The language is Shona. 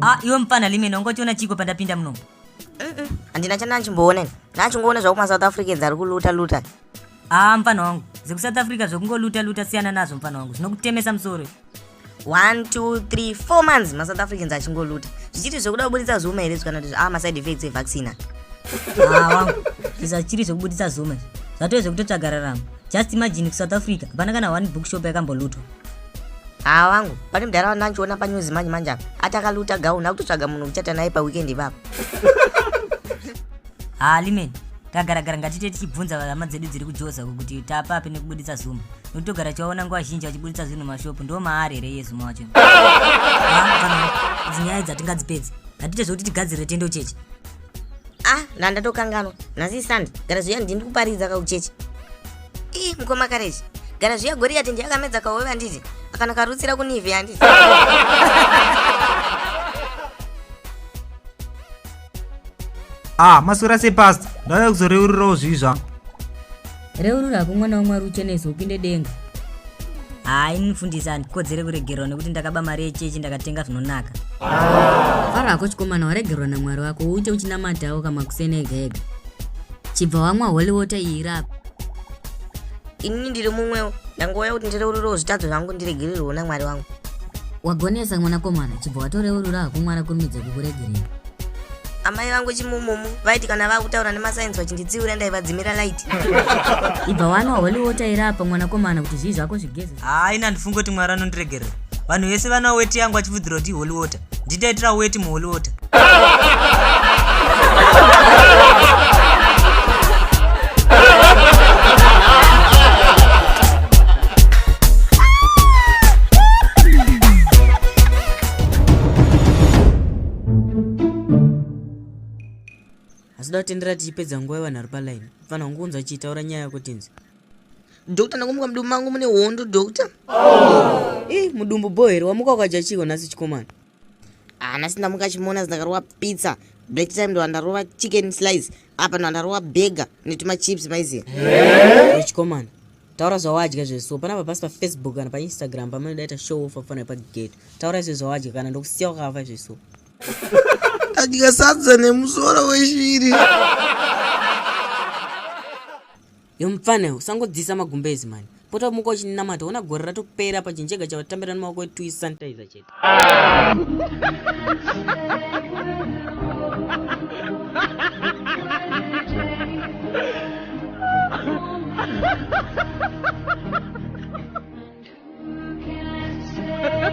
Ah, iwe mfana limene ungotiona chiko pandapinda muno handina chandachimboona ini ndachingoona zvakuma south africans ari kuluta luta haa mfana wangu zvekusouth africa zvekungoluta luta siyana nazvo mfana wangu zvinokutemesa musoro 1 2 3 4 months ma south africans achingoluta zvichiri zvekuda kubuditsa zuma here zvikana kuti ah ma side effects e vaccine awa zvisachiri zvekubuditsa zuma zvatove zvekutotsvaga raramo just imagine ku south africa hapana kana one bookshop yakambolutwa haa wangu pane mudhara wandandichiona panews manje manje apa ati akaluta gauni akutotsvaga munhu kuchata naye paweekend ipapo haa limen Tagaragara ngatite tichibvunza hama dzedu dziri kujoza uko kuti tapapi nekubuditsa zuma. Nokuti togara tichivaona nguva zhinji vachibuditsa zvinhu mumashopu ndiwo maari here iye zuma wacho. Idzi nyaya idzi hatingadzipedzi. Ngatiite zvekuti tigadzirire tendo chechi. Ah, nda ndatokanganwa. Nhasi isandi. Gara zviya ndini kuparidza ka kuchechi. Ii, mukoma kareji. Gara zviya Goriyati ndiye akamedza kahove handiti? Akana karutsira kunivi handiti? ah maswera sei pastor ndauya kuzoreururawo zvii zvangu reurura hako mwana wamwari uchenese upinde denga haa ini mufundisi handikodzere kuregerwa nekuti ndakaba mari yechechi ndakatenga zvinonaka fara hako chikomana waregerwa namwari wako uite uchinamatawo kamakuseni ega ega chibva wamwa holy water iyi irapa inini ndiri mumwewo ndangouya kuti ndireururawo zvitadzo zvangu ndiregererwewo namwari wangu wagonesa mwanakomana chibva watoreurura hakumwara kurumidza kukuregerera amai vangu chimumumu vaiti kana vakutaura nemasainzi vachinditsiura ndaivadzimira light ibva wanwa holy water iri apa mwanakomana kuti zvii zvako zvigeze haa ini handifungi kuti mwari anondiregerera vanhu vese vana weti yangu achifudzirwa kuti iholy water nditaitira weti muholy water asi datendera tichipedza nguva yevanhu ari palaini fanira kungonzwa chiitaura nyaya yako tinzi Doctor ndakumuka mudumbu mangu mune hondo doctor. Oh. Ih, eh, mudumbu bho here wamuka ukadya chiko nhasi chikomana. Ah, nhasi ndamuka chimona ndakarova pizza. Black time ndo ndarova chicken slice. Apa ndo ndarova burger netuma chips maiziya. Eh? eh? Chikomana. Taura zvawadya zveso panapa pasi pa Facebook kana pa Instagram pamene daita show off afana pa gate. Taura izvo zvawadya kana ndokusiya wakafa zveso. Adya sadza nemusoro weshiri. yo mupfana usangodzisa magumbezi mani pota umuka uchinamata ona gore ratopera pachinjega chavatambira nemaoko etui sanitizer chete